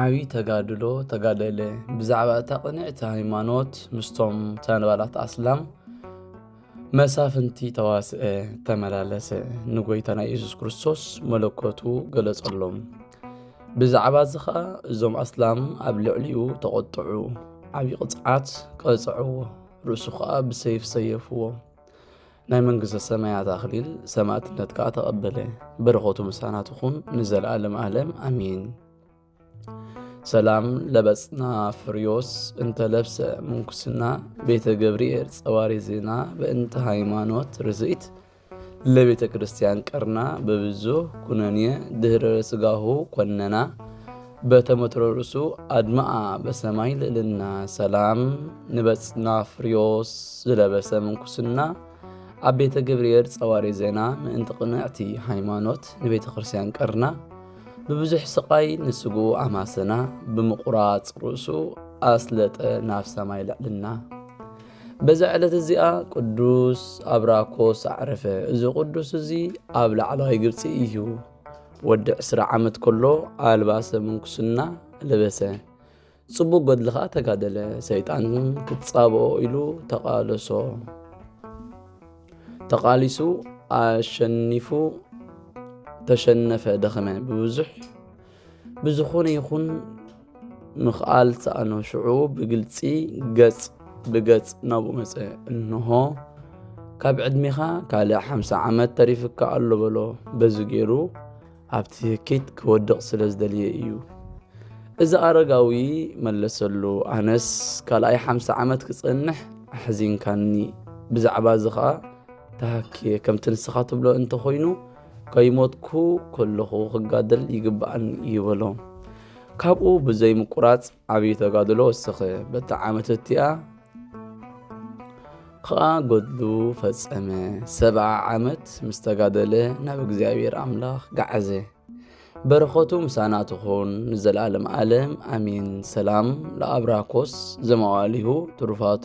ዓብዪ ተጋድሎ ተጋደለ ብዛዕባ እታ ቅንዕቲ ሃይማኖት ምስቶም ተንባላት ኣስላም መሳፍንቲ ተዋስአ ተመላለሰ ንጎይታና ኢየሱስ ክርስቶስ መለኮቱ ገለጸሎም ብዛዕባ እዚ ኸዓ እዞም ኣስላም ኣብ ልዕሊኡ ተቖጥዑ ዓብዪ ቕፅዓት ቀፅዕዎ ርእሱ ኸዓ ብሰይፍ ሰየፍዎ ናይ መንግሥተ ሰማያት ኣኽሊል ሰማዕትነት ከዓ ተቐበለ። በረኸቱ ምሳና ትኹን ንዘለዓለም ዓለም ኣሜን። ሰላም ለበጽና ፍርዮስ እንተ ለብሰ ምንኩስና ቤተ ገብርኤል ጸዋሪ ዜና በእንተ ሃይማኖት ርዝኢት ለቤተ ክርስቲያን ቀርና በብዙ ኩነኔ ድህረ ስጋሁ ኮነና በተመትሮ ርእሱ ኣድመኣ በሰማይ ልእልና ሰላም ንበጽና ፍርዮስ ዝለበሰ ምንኩስና ኣብ ቤተ ገብርኤል ጸዋሪ ዜና ምእንቲ ቅንዕቲ ሃይማኖት ንቤተ ክርስቲያን ቀርና ብብዙሕ ስቓይ ንስግኡ ኣማሰና ብምቑራጽ ርእሱ ኣስለጠ ናብ ሰማይ ልዕልና በዛ ዕለት እዚኣ ቅዱስ ኣብራኮስ ኣዕረፈ። እዚ ቅዱስ እዚ ኣብ ላዕለዋይ ግብፂ እዩ። ወዲ ዕስራ ዓመት ከሎ ኣልባሰ ምንኩስና ለበሰ። ጽቡቕ ገድሊ ኸኣ ተጋደለ። ሰይጣን ክጻብኦ ኢሉ ተቓለሶ። ተቓሊሱ ኣሸኒፉ ተሸነፈ፣ ደኸመ። ብብዙሕ ብዝኾነ ይኹን ምኽኣል ሰኣኖ። ሽዑ ብግልጺ ገጽ ብገጽ ናብኡ መጸ። እንሆ ካብ ዕድሜኻ ካልእ ሓምሳ ዓመት ተሪፍካ ኣሎ በሎ በዚ ገይሩ ኣብቲ ህኪት ክወድቕ ስለ ዝደልየ እዩ እዚ ኣረጋዊ መለሰሉ ኣነስ ካልኣይ ሓምሳ ዓመት ክጸንሕ ኣሕዚንካኒ ብዛዕባ እዚ ኸኣ ተሃክየ ከምቲ ንስኻ ትብሎ እንተኾይኑ ከይሞትኩ ከለኹ ክጋደል ይግብኣኒ እዩ በሎ ካብኡ ብዘይምቁራጽ ዓብዪ ተጋድሎ ወሰኸ። በታ ዓመት እቲኣ ኸኣ ገድሉ ፈጸመ። ሰብዓ ዓመት ምስ ተጋደለ ናብ እግዚኣብሔር ኣምላኽ ገዓዘ። በረኸቱ ምሳና ትኹን ንዘለዓለም ዓለም ኣሜን። ሰላም ለኣብራኮስ ዘመዋሊሁ ትሩፋተ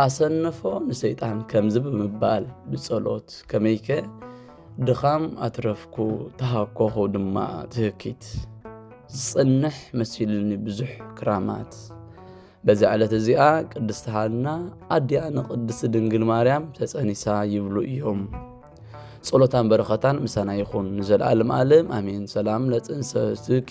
ኣሰንፎ ንሰይጣን ከምዚ ብምባል ብጸሎት ከመይከ ድኻም ኣትረፍኩ ተሃኮኹ ድማ ትህኪት ዝጽንሕ መሲሉኒ ብዙሕ ክራማት በዚ ዕለት እዚኣ ቅድስቲ ሃና ኣዲኣ ንቅድስቲ ድንግል ማርያም ተጸኒሳ ይብሉ እዮም ጸሎታን በረኸታን ምሳና ይኹን ንዘለኣለም ኣለም ኣሜን ሰላም ለጽንሰትኪ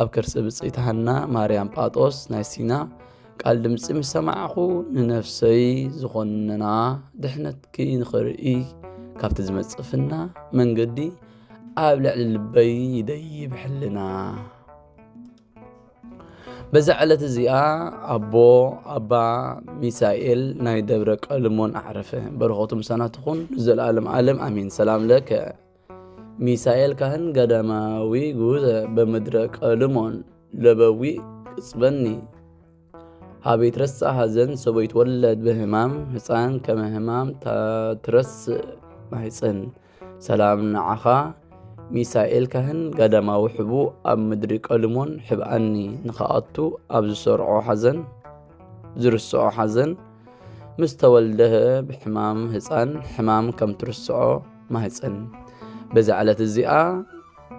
ኣብ ከርሲ ብፅይቲ ሃና ማርያም ጳጦስ ናይ ሲና ቃል ድምፂ ምስ ሰማዕኹ ንነፍሰይ ዝኾነና ድሕነትኪ ንኽርኢ ካብቲ ዝመፅእ ፍና መንገዲ ኣብ ልዕሊ ልበይ ይደይብ ሕልና በዛ ዕለት እዚኣ ኣቦ ኣባ ሚሳኤል ናይ ደብረ ቀልሞን ኣዕረፈ በረኸቱ ምሳና ትኹን ንዘለኣለም ኣለም ኣሜን ሰላም ለከ ሚሳኤል ካህን ገዳማዊ ጉዘ በምድረ ቀልሞን ለበዊ ቅጽበኒ ሀቤት ረሳ ሀዘን ሰቦይት ወለድ በህማም ህፃን ከመ ህማም ታትረስ ማህፅን ሰላም ንዓኻ ሚሳኤል ካህን ገዳማዊ ሕቡ ኣብ ምድሪ ቀልሞን ሕብኣኒ ንኸኣቱ ኣብ ዝሰርዖ ሓዘን ዝርስዖ ሓዘን ምስ ተወልደ ብሕማም ህፃን ሕማም ከም ትርስዖ ማህፀን በዛ ዕለት እዚኣ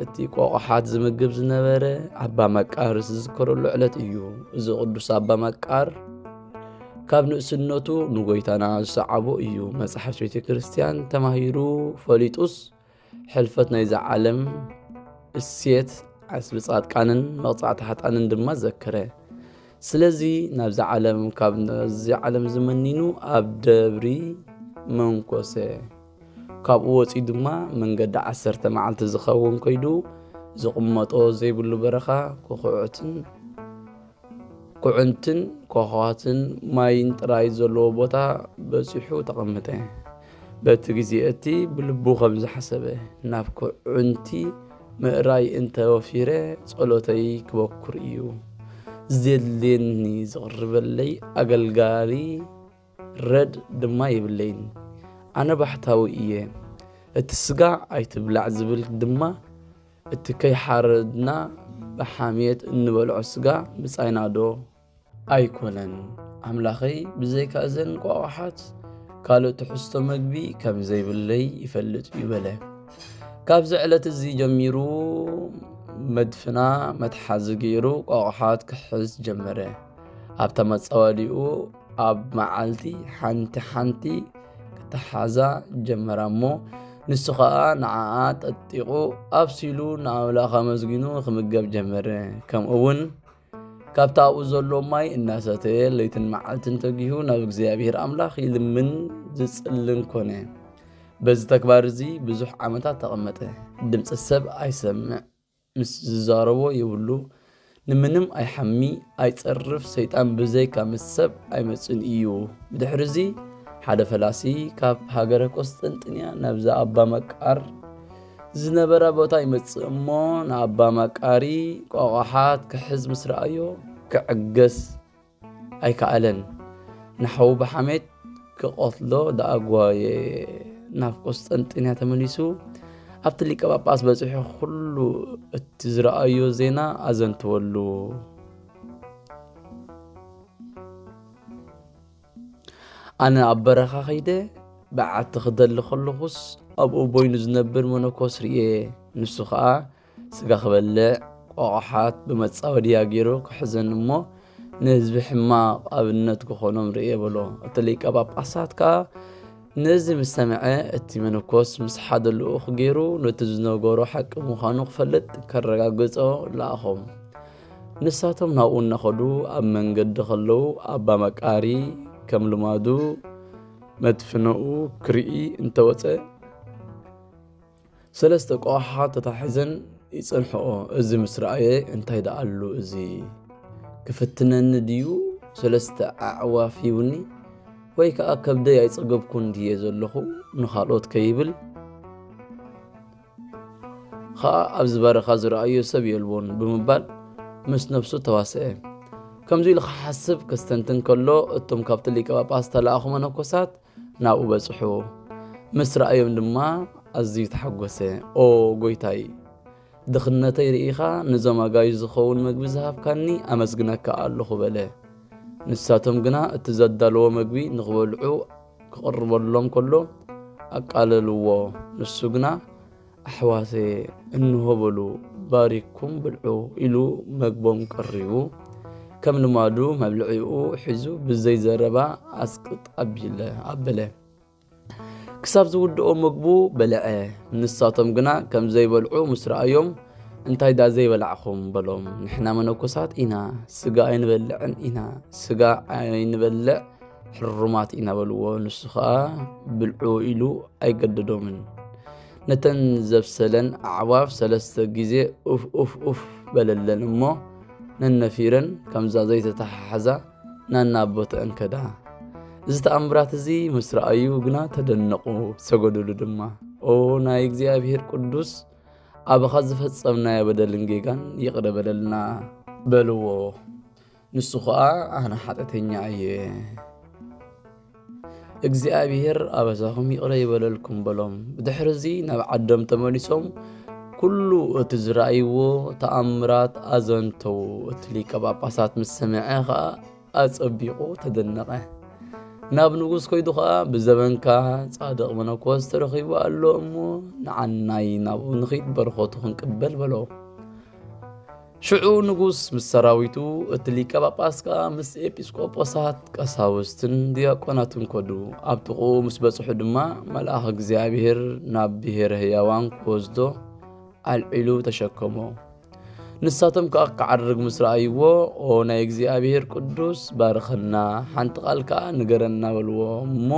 እቲ ቆቕሓት ዝምግብ ዝነበረ ኣባ መቃር ዝዝከረሉ ዕለት እዩ። እዚ ቅዱስ ኣባ መቃር ካብ ንእስነቱ ንጎይታና ዝሰዓቦ እዩ። መፅሓፍቲ ቤተ ክርስቲያን ተማሂሩ ፈሊጡስ ሕልፈት ናይዛ ዓለም እሴት ዓስቢ ጻድቃንን መቕጻዕቲ ሓጣንን ድማ ዘከረ። ስለዚ ናብዚ ዓለም ካብ እዚ ዓለም እዚ መኒኑ ኣብ ደብሪ መንኮሰ ካብኡ ወፂኡ ድማ መንገዲ ዓሰርተ መዓልቲ ዝኸውን ኮይዱ ዝቕመጦ ዘይብሉ በረኻ ኮኹዕትን ኩዕንትን ኮኸዋትን ማይን ጥራይ ዘለዎ ቦታ በፂሑ ተቐመጠ። በቲ ግዜ እቲ ብልቡ ከም ዝሓሰበ ናብ ኩዕንቲ ምእራይ እንተ ወፊረ ጸሎተይ ክበኩር እዩ ዜድልየኒ፣ ዚቕርበለይ ኣገልጋሊ ረድ ድማ የብለይን። ኣነ ባሕታዊ እየ፣ እቲ ስጋ ኣይትብላዕ ዝብል ድማ እቲ ከይሓረድና ብሓምየት እንበልዖ ስጋ ምጻይናዶ? ኣይኮነን ኣምላኸይ ብዘይካ እዘን ቋቋሓት ካልእ ትሕዝቶ መግቢ ከም ዘይብለይ ይፈልጥ እዩ በለ ካብዚ ዕለት እዚ ጀሚሩ መድፍና መትሓዚ ገይሩ ቋቋሓት ክሕዝ ጀመረ ኣብታ መፃወዲኡ ኣብ መዓልቲ ሓንቲ ሓንቲ ክተሓዛ ጀመራ እሞ ንሱ ከዓ ንዓኣ ጠጢቑ ኣብሲሉ ንኣምላኽ ኣመስጊኑ ክምገብ ጀመረ ከምኡ እውን ካብቲ ኣብኡ ዘሎ ማይ እናሰተየ ለይትን መዓልትን ተጊሁ ናብ እግዚኣብሔር ኣምላኽ ይልምን ዝጽልን ኮነ። በዚ ተግባር እዚ ብዙሕ ዓመታት ተቐመጠ። ድምፂ ሰብ ኣይሰምዕ፣ ምስ ዝዛረቦ ይብሉ፣ ንምንም ኣይሓሚ፣ ኣይጸርፍ፣ ሰይጣን ብዘይካ ምስ ሰብ ኣይመጽን እዩ። ብድሕሪ እዚ ሓደ ፈላሲ ካብ ሃገረ ቆስጠንጥንያ ናብዛ ኣባ መቃር ዝነበራ ቦታ ይመጽእ እሞ ንኣባ ማቃሪ ቆቋሓት ክሕዝ ምስ ረኣዮ ክዕገስ ኣይከኣለን ንሓዉ ብሓሜት ክቐትሎ ደኣ ጓየ ናብ ቆስጠንጢንያ ተመሊሱ ኣብቲ ሊቀ ጳጳስ በፂሑ ኩሉ እቲ ዝረኣዮ ዜና ኣዘንተወሉ ኣነ ኣብ በረኻ ኸይደ በዓቲ ክደሊ ከለኹስ ኣብኡ ቦይኑ ዝነብር መነኮስ ርየ ንሱ ከዓ ስጋ ክበልዕ ቆቕሓት ብመፃወድያ ገይሩ ክሕዘን እሞ ንህዝቢ ሕማቕ ኣብነት ክኾኖም ርየ በሎ እቲ ሊቀ ጳጳሳት ከዓ ነዚ ምስ ሰምዐ እቲ መነኮስ ምስ ሓደ ልኡኽ ገይሩ ነቲ ዝነገሮ ሓቂ ምዃኑ ክፈልጥ ከረጋግጾ ለኣኾም ንሳቶም ናብኡ እናኸዱ ኣብ መንገዲ ከለዉ ኣባ መቃሪ ከም ልማዱ መድፍነኡ ክርኢ እንተወፀ ሰለስተ ቆሓ ተታሒዘን ይፅንሕኦ እዚ ምስ ረኣየ እንታይ ደኣሉ እዚ ክፍትነኒ ድዩ ሰለስተ ኣዕዋፍ ይውኒ ወይ ከዓ ከብደይ ኣይፀገብኩን ድየ ዘለኹ ንካልኦት ከይብል ኸኣ ኣብዚ በረኻ ዝረኣዮ ሰብ የልቦን ብምባል ምስ ነፍሱ ተዋሰኤ። ከምዚ ኢሉ ክሓስብ ከስተንትን ከሎ እቶም ካብቲ ሊቀ ጳጳስ ዝተላእኹ መነኮሳት ናብኡ በጽሑ። ምስ ረኣዮም ድማ ኣዝዩ ተሓጎሰ። ኦ ጎይታይ ድኽነተይ ርኢኻ ንዞም ኣጋዩ ዝኸውን መግቢ ዝሃብካኒ ኣመስግነካ ኣለኹ በለ። ንሳቶም ግና እቲ ዘዳለዎ መግቢ ንኽበልዑ ክቕርበሎም ከሎ ኣቃለልዎ፣ ንሱ ግና ኣሕዋተየ እንሆ በሉ ባሪኩም ብልዑ ኢሉ መግቦም ቀሪቡ ከም ልማዱ መብልዒኡ ሒዙ ብዘይ ዘረባ ኣስቅጥ ኣቢለ ኣበለ። ክሳብ ዝውድኦ ምግቡ በልዐ። ንሳቶም ግና ከም ዘይበልዑ ምስ ረኣዮም እንታይ ዳ ዘይበላዕኹም በሎም። ንሕና መነኮሳት ኢና፣ ስጋ ኣይንበልዕን ኢና፣ ስጋ ኣይንበልዕ ሕሩማት ኢና በልዎ ንሱ ከዓ ብልዑ ኢሉ ኣይገደዶምን ነተን ዘብሰለን ኣዕዋፍ ሰለስተ ግዜ ኡፍ ኡፍ ኡፍ በለለን እሞ ነነፊረን ከምዛ ዘይተተሓሓዛ ናና ቦተአን ከዳ እዚ ተኣምራት እዚ ምስ ረኣዩ ግና ተደነቑ ሰገዱሉ ድማ ኦ ናይ እግዚኣብሔር ቅዱስ ኣባኻ ዝፈጸምናዮ በደልን ጌጋን ይቕረ በለልና በልዎ ንሱ ኸኣ ኣነ ሓጢኣተኛ እየ፣ እግዚኣብሔር ኣበሳኹም ይቕረ ይበለልኩም በሎም። ብድሕርዚ ናብ ዓዶም ተመሊሶም ኩሉ እቲ ዝረኣይዎ ተኣምራት ኣዘንተው እቲ ሊቀ ጳጳሳት ምስ ሰምዐ ኸኣ ኣጸቢቑ ተደነቐ ናብ ንጉስ ኮይዱ ኸኣ ብዘበንካ ጻድቕ መነኮስ ተረኺቡ ኣሎ እሞ ንዓናይ ናብኡ ንኺድ በረኸቱ ክንቅበል በሎ ሽዑ ንጉስ ምስ ሰራዊቱ እቲ ሊቀ ጳጳስ ከኣ ምስ ኤጲስቆጶሳት ቀሳውስትን ዲያቆናትን ኮዱ ኣብ ጥቕኡ ምስ በጽሑ ድማ መልኣኽ እግዚኣብሔር ናብ ብሔረ ህያዋን ክወስዶ ኣልዒሉ ተሸከሞ ንሳቶም ከኣ ክዓርግ ምስ ረኣይዎ ኦ ናይ እግዚኣብሔር ቅዱስ ባርኸና ሓንቲ ቃል ከኣ ንገረና በልዎ እሞ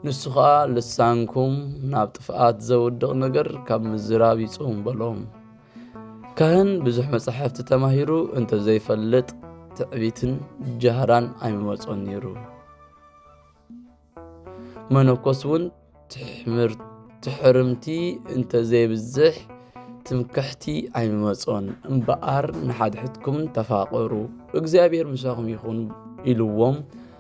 ንሱ ኸኣ ልሳንኩም ናብ ጥፍኣት ዘውድቕ ነገር ካብ ምዝራብ ይጽውም በሎም ካህን ብዙሕ መጻሕፍቲ ተማሂሩ እንተ ዘይፈልጥ ትዕቢትን ጃህራን ኣይምመጾን ነይሩ መነኮስ እውን ትሕርምቲ እንተ ዘይብዝሕ ትምክሕቲ ኣይምመጾን እምበኣር ንሓድሕድኩም ተፋቐሩ እግዚኣብሔር ምሳኹም ይኹን ኢልዎም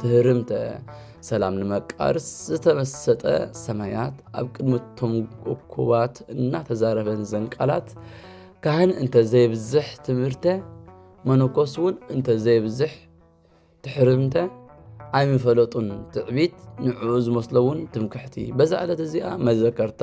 ትህርምተ ሰላም ንመቃርስ ዝተመሰጠ ሰማያት ኣብ ቅድሚ እቶም እኩባት እናተዛረበን ዘን ቃላት ካህን እንተዘይብዝሕ ትምህርተ መነኮስ እውን እንተዘይብዝሕ ትሕርምተ ኣይምፈለጡን ትዕቢት ንዕኡ ዝመስሎ እውን ትምክሕቲ በዛ ዕለት እዚኣ መዘከርታ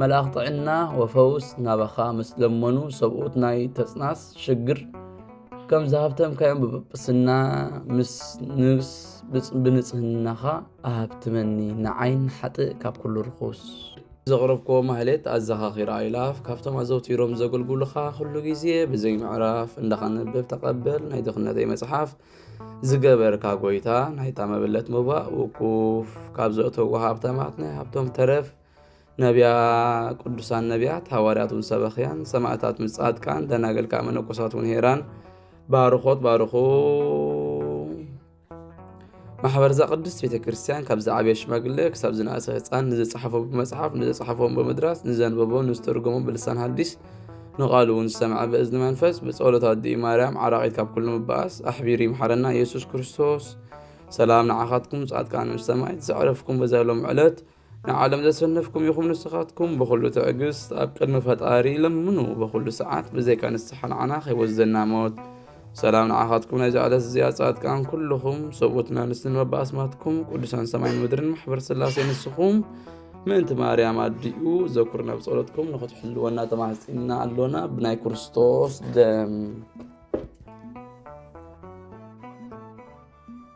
መልኣኽ ጥዕና ወፈውስ ናባኻ ምስ ለመኑ ሰብኡት ናይ ተጽናስ ሽግር ከም ዝሃብተምካዮም ብጵጵስና ምስ ንብስ ብንጽህናኻ ኣሃብትመኒ ንዓይን ሓጥእ ካብ ኩሉ ርኹስ ዘቕረብክዎ ማህሌት ኣዘኻኺራ ኣይላፍ ካብቶም ኣዘውቲሮም ዘገልግሉኻ ኩሉ ግዜ ብዘይ ምዕራፍ እንዳኸንብብ ተቐበል ናይ ድኽነተይ መጽሓፍ ዝገበርካ ጎይታ ናይታ መበለት ምባእ ውቁፍ ካብ ዘእተዎ ሃብታማት ናይ ሃብቶም ተረፍ ነቢያ ቅዱሳን ነቢያት ሃዋርያት ውን ሰበኽያን ሰማእታት ውን ጻድቃን ደናግል ከዓ መነኮሳት ውን ሄራን ባርኾት ባርኹ ማሕበርዛ ቅድስት ቤተ ክርስቲያን ካብ ዝዓበየ ሽማግለ ክሳብ ዝነእሰ ህፃን ንዝፀሓፎ ብመፅሓፍ ንዘፅሓፎም ብምድራስ ንዘንበቦ ንዝተርጎሞ ብልሳን ሃዲስ ንቓሉ እውን ዝሰምዐ ብእዝኒ መንፈስ ብፀሎት ኣዲኡ ማርያም ዓራቒት ካብ ኩሉ ምበኣስ ኣሕቢሩ ይምሓረና ኢየሱስ ክርስቶስ ሰላም ንዓኻትኩም ጻድቃን ምስ ሰማይት ዘዕረፍኩም በዛ ሎም ዕለት ንዓለም ዘሰነፍኩም ኢኹም ንስኻትኩም ብኹሉ ትዕግስት ኣብ ቅድሚ ፈጣሪ ለምኑ በኹሉ ሰዓት ብዘይካ ንስሓ ንዓና ከይወስደና ሞት ሰላም ንዓኻትኩም ናይዚ ዕለት እዚኣ ጻድቃን ኩልኹም ሰብኡት መምስን መባኣስማትኩም ቅዱሳን ሰማይን ምድርን ማሕበር ስላሴ ንስኹም ምእንቲ ማርያም ኣዲኡ ዘኩር ናብ ጸሎትኩም ንኽትሕልወና ተማሕጺና ኣሎና ብናይ ክርስቶስ ደም